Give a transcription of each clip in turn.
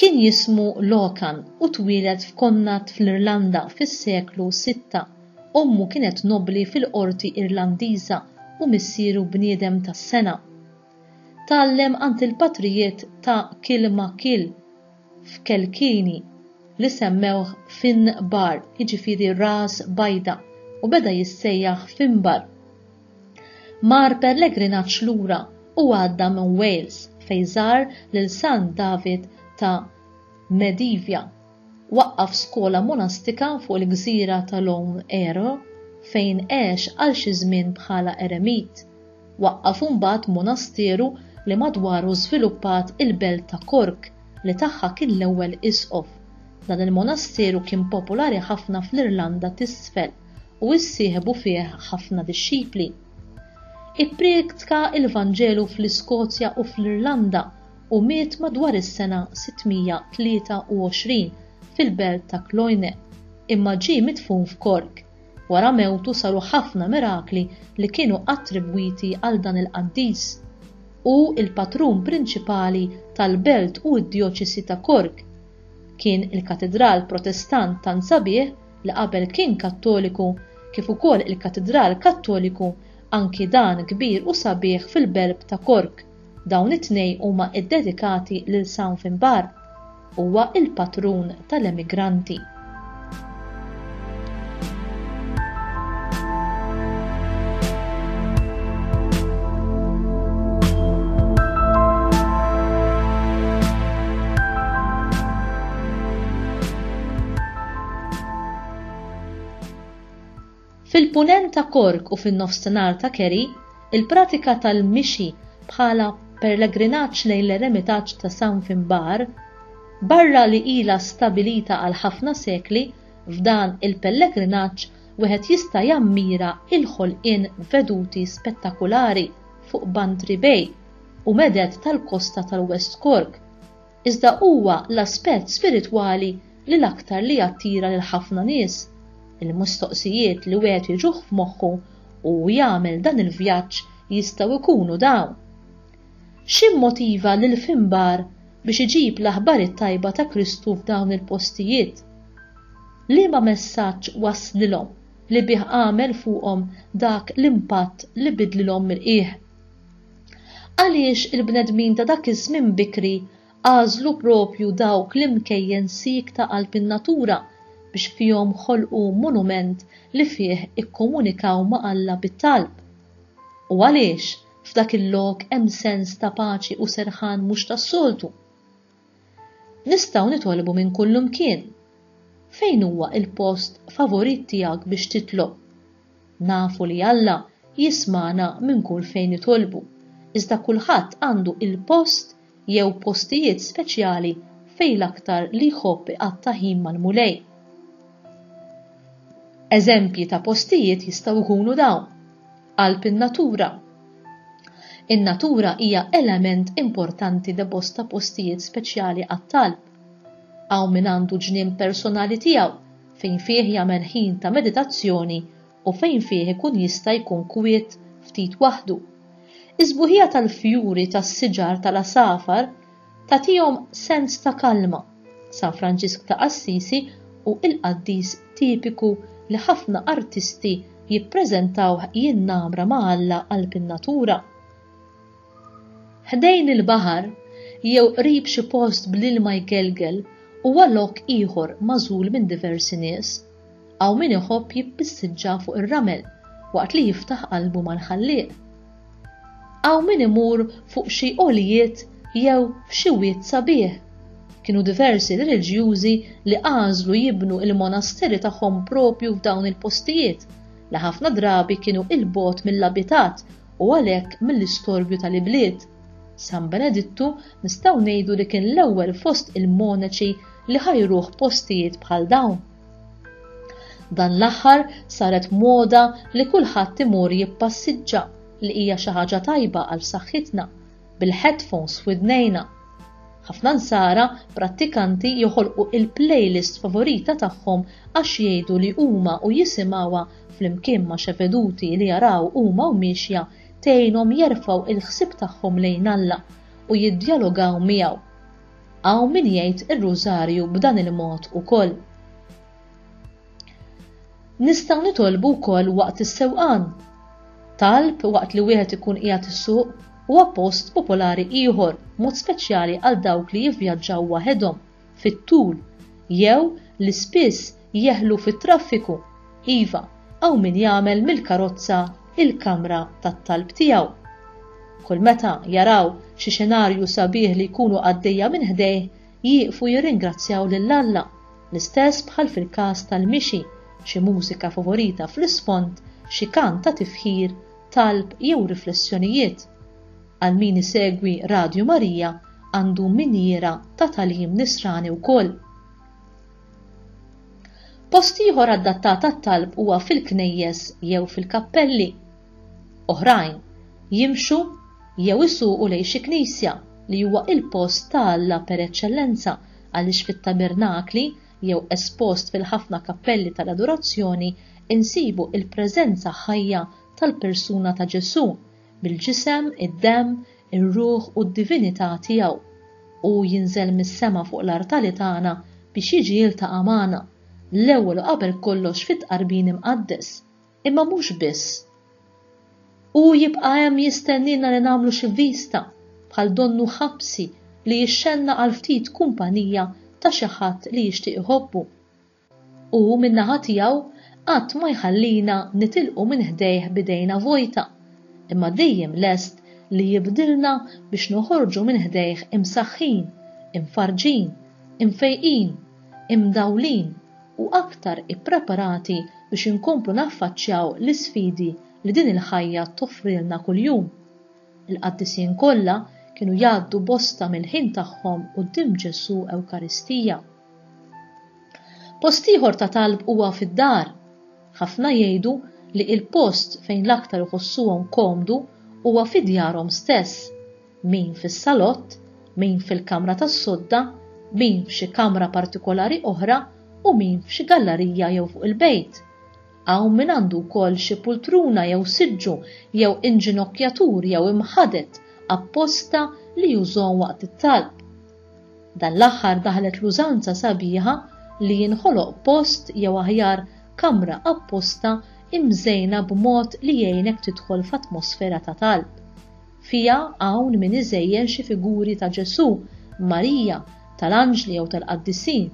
Kien jismu Locan u twieled f'Connacht fl-Irlanda fis-seklu sitta. Ommu kienet nobbli fil-qorti Irlandiża u missieru bniedem tas-sengħa. Tgħallem għand il-patrijiet ta' Kilmacil f'Kelkilny li semmewh Finn Barr, jiġifieri ras bajda, u beda jissejjaħ Finbar. Mar pellegrinaġġ lura u għadda minn Wales fejn żar lil San David ta' Medivja. Waqqaf skola monastika fuq il-gżira ta' Lough Ere fejn għex għal xi żmien bħala eremit. Waqqaf imbagħad monasteru li madwaru żviluppat il-belt ta' Cork li tagħha kien l-ewwel isqof. Dan il-monasteru kien popolari ħafna fl-Irlanda t'Isfel. u issieħbu fih ħafna dixxipli. Ippriedka l-Vanġelu fl-Iskozja u fl-Irlanda u miet madwar is-sena 623 fil-belt ta' Cloyne, imma ġie midfun f'Cork. Wara mewtu saru ħafna mirakli li kienu attribwiti għal dan il-qaddis. Hu l-patrun prinċipali tal-belt u d-djoċesi ta' Cork. Kien il-katidral Protestant tant sabiħ li qabel kien Kattoliku, kif ukoll il-Katidral Kattoliku, anki dan kbir u sabiħ fil-belb ta' Cork, dawn it-tnejn huma ddedikati lil San Finbarr. Huwa l-patrun tal-emigranti. Fil-Punent ta' Cork u fin-Nofsinhar ta' Kerry, il-pratika tal-mixi bħala pellegrinaġġ lejn l-eremitaġġ ta' San Finbarr, barra li ilha stabilita għal ħafna sekli, f'dan il-pellegrinaġġ wieħed jista' jammira il-ħolqien veduti spettakulari fuq Bantry Bay u meded tal-kosta tal-West Cork. Iżda huwa l-aspett spiritwali li l-aktar li jattira lil ħafna nies. Il-mistoqsijiet li wieħed jiġuh f'moħħu u jagħmel dan il-vjaġġ jistgħu jkunu dawn, X'immotiva lil Finbar biex iġib l-aħbar it-tajba ta' Kristu f'dawn il-postijiet? Liema messaġġ wasslilhom li bih għamel fuqhom dak l-impatt li bidlilhom mill-qiegħ? Għaliex il-bnedmin ta' dak iż-żmien bikri għażlu proprju dawk l-imkejjen siek ta' qalb in-natura biex fihom ħolqu monument li fih ikkomunikaw ma' Alla bit-talb? U għaliex f'dak il-lok hemm sens ta' paċi u serħan mhux tas-soltu? Nistgħu nitolbu minn kullimkien. Fejn huwa l-post favorit tiegħek biex titlob? Nafu li Alla jismagħna minn kull fejn nitolbu, iżda kulħadd għandu l-post jew postijiet speċjali fejn l-aktar li jħobb iqatta' ħin mal-Mulej. Eżempji ta' postijiet jistgħu jkunu dawn. Qalb in-natura In-natura hija element importanti li bosta postijiet speċjali għat-talb. Hawn min għandu ġnien personali tiegħu fejn fih jagħmel ħin ta' meditazzjoni u fejn fih ikun jista' jkun kwiet ftit waħdu. Is-sbuħija tal-fjuri, tas-siġar, tal-għasafar Tagħtihom sens ta' kalma. San Franġisk ta' Assisi hu l-qaddis tipiku li ħafna artisti jippreżentawh jinnamra ma' Alla qalb in-natura. Ħdejn il-baħar jew qrib xi post bl-ilma jgelgel huwa lok ieħor magħżul minn diversi nies. Hawn min iħobb jippissiġġa fuq ir-ramel waqt li jiftaħ qalbu mal-Ħallieq. Hawn min imur fuq xi għoljiet jew f'xi wied sabiħ. Kienu diversi reliġjużi li għażlu jibnu l-monasteri tagħhom proprju f'dawn il-postijiet, li ħafna drabi kienu 'il bogħod mill-abitat u għalhekk mill-istorbju tal-ibliet. San Benedittu nistgħu ngħidu li kien l-ewwel fost il-monaċi li ħa jruh postijiet bħal dawn. Dan l-aħħar saret moda li kulħadd imur jippassiġġa li hija xi ħaġa tajba għal saħħitna bil-headphones f'widnejna. Ħafna nsara prattikanti joħolqu il-playlist favorita tagħhom għax jgħidu li huma u jisimgħuha flimkien ma' xeveduti li jaraw huma u miexja tgħinhom jerfgħu il-ħsieb tagħhom lejn Alla u jiddjalogaw miegħu. Hawn min jgħid ir-Rużarju b'dan il-mod ukoll. Nistgħu nitolbu wkoll waqt is-sewqan. Talb waqt li wieħed ikun qiegħed isuq huwa post popolari ieħor, mod speċjali għal dawk li jivvjaġġaw waħedhom fit-tul jew li spiss Jeħlu fit-traffiku? Iva, hawn min jagħmel mill-karozza il-kamra tat-talb tiegħu. Kull meta jaraw xi xenarju sabiħ li jkunu għaddejja minn ħdejh, jieqfu jirringrazzjaw lil Alla, l-istess bħal fil-każ tal-mixi, xi mużika favorita fl-isfond, xi kant ta' tifħir, talb jew riflessjonijiet. Għal min isegwi Radju Marija għandu minjiera ta' tagħlim nisrani wkoll. Post ieħor adattat għat-talb huwa fil-knejjes jew fil-kappelli. Oħrajn jimxu jew isuqu lejn xi knisja, li huwa l-post ta' Alla per eċċellenza għaliex fit-tabernakli jew espost fil-ħafna kappelli tal-adorazzjoni nsibu l-preżenza ħajja tal-persuna ta' Ġesù, bil-ġisem, id-demm, ir-ruħ u d-divinità tiegħu. Hu jinżel mis-sema fuq l-artali tagħna biex jiġi jiltaqa' magħna, l-ewwel u qabel kollox fit-Tqarbin Imqaddes, imma mhux biss. Hu jibqa' hemm jistennielna li nagħmlu xi vista, bħal donnu ħabsi li jixxennaq għal ftit kumpanija ta' xi ħadd li jixtieq iħobbu. Hu min-naħa tiegħu qatt ma jħallina nitilqu minn ħdejh b'idejna vojta, imma dejjem lest li jibdilna biex noħorġu minn ħdejh imsaħħin, imfarrġin, imfejqin, imdawlin u aktar ippreparati biex inkomplu naffaċċjaw l-isfidi li din il-ħajja toffrilna kuljum. Il-qaddisin kollha kienu jgħaddu bosta mill-ħin tagħhom quddiem Ġesù Ewkaristija. Post ieħor ta' talb huwa fid-dar. Ħafna jgħidu li il-post fejn l-aktar iħossuhom komdu huwa fi djarhom stess, min fis-salott, min fil-kamra tas-sodda, min f'xi kamra partikolari oħra u min f'xi gallarija jew fuq il-bejt. Hawn min għandu wkoll xi pultruna jew siġġu jew inġinokkjatur jew imħadet apposta li jużhom waqt it-talb. Dan l-aħħar daħlet l-użanza sabiħa li jinħoloq post jew aħjar kamra apposta imżejna b'mod li jgħinek tidħol f'atmosfera ta' talb. Fiha hawn min iżejjen xi figuri ta' Ġesù, Marija, tal-anġli jew tal-qaddisin.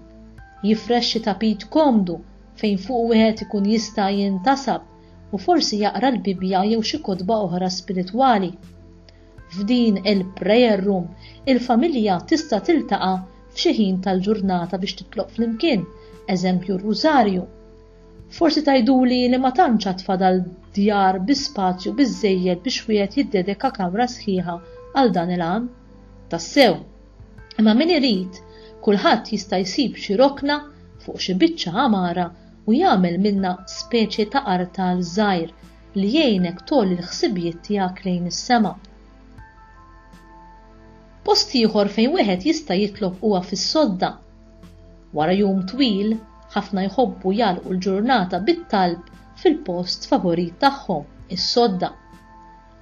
Jifrex xi tapit komdu fejn fuq wieħed ikun jista' jintasab u forsi jaqra l-Bibbja jew xi kotba oħra spiritwali. F'din il-prayer room, il-familja tista' tiltaqa' f'xi ħin tal-ġurnata biex titlob flimkien, eżempju r-Rużarju. Forsi tgħiduli li ma tantx għad fadal djar bi spazju biżżejjed biex wieħed jiddedeka kamra sħiħa għal dan il-għan. Tassew. Imma min irid, kulħadd jista' jsib xi rokna fuq xi biċċa għamara u jagħmel minnha speċi ta' artal żgħir li jgħinek tgħolli l-ħsibijiet tiegħek lejn is-sema. Post ieħor fejn wieħed jista' jitlob huwa fis-sodda. Wara jum twil, ħafna jħobbu jagħlqu l-ġurnata bit-talb fil-post favorit tagħhom, is-sodda.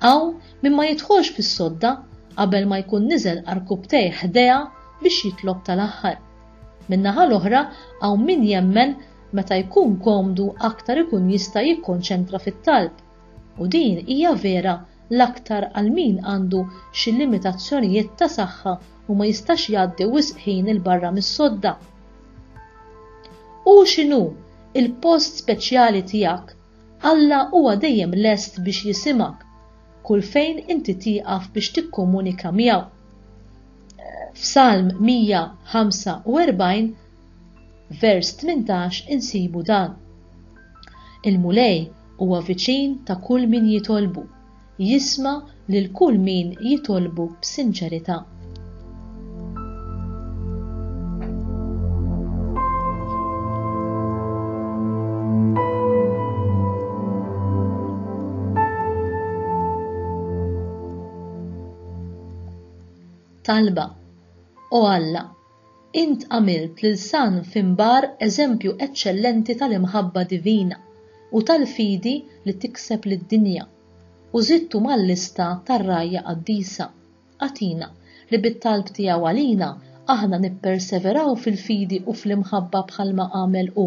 Hawn min ma jidħolx fis-sodda qabel ma jkun niżel arkubtej ħdejha biex jitlob tal-aħħar. Min-naħa l-oħra hawn min jemmen Meta jkun komdu aktar ikun jista' jikkonċentra fit-talb, u din hija vera l-aktar għal min għandu xi limitazzjonijiet ta' saħħa u ma jistax jgħaddi wisq ħin 'il barra mis-sodda. Hu x'inhu l-post speċjali tiegħek, Alla huwa dejjem lest biex jisimgħek kull fejn inti tieqaf biex tikkomunika miegħu. F'Salm 145 vers 18 insibu dan, Il-Mulej huwa viċin ta' kull min jitolbu, jisma' lil kull min jitolbu b'sinċerità. Talba, O Alla, Int għamilt lil San Finbarr eżempju eċċellenti tal-imħabba divina u tal-fidi li tikseb lid-dinja, u żidtu mal-lista tar-rgħajja qaddisa. Agħtina li bit-talb tiegħu għalina aħna nipperseveraw fil-fidi u fl-imħabba bħalma għamel hu,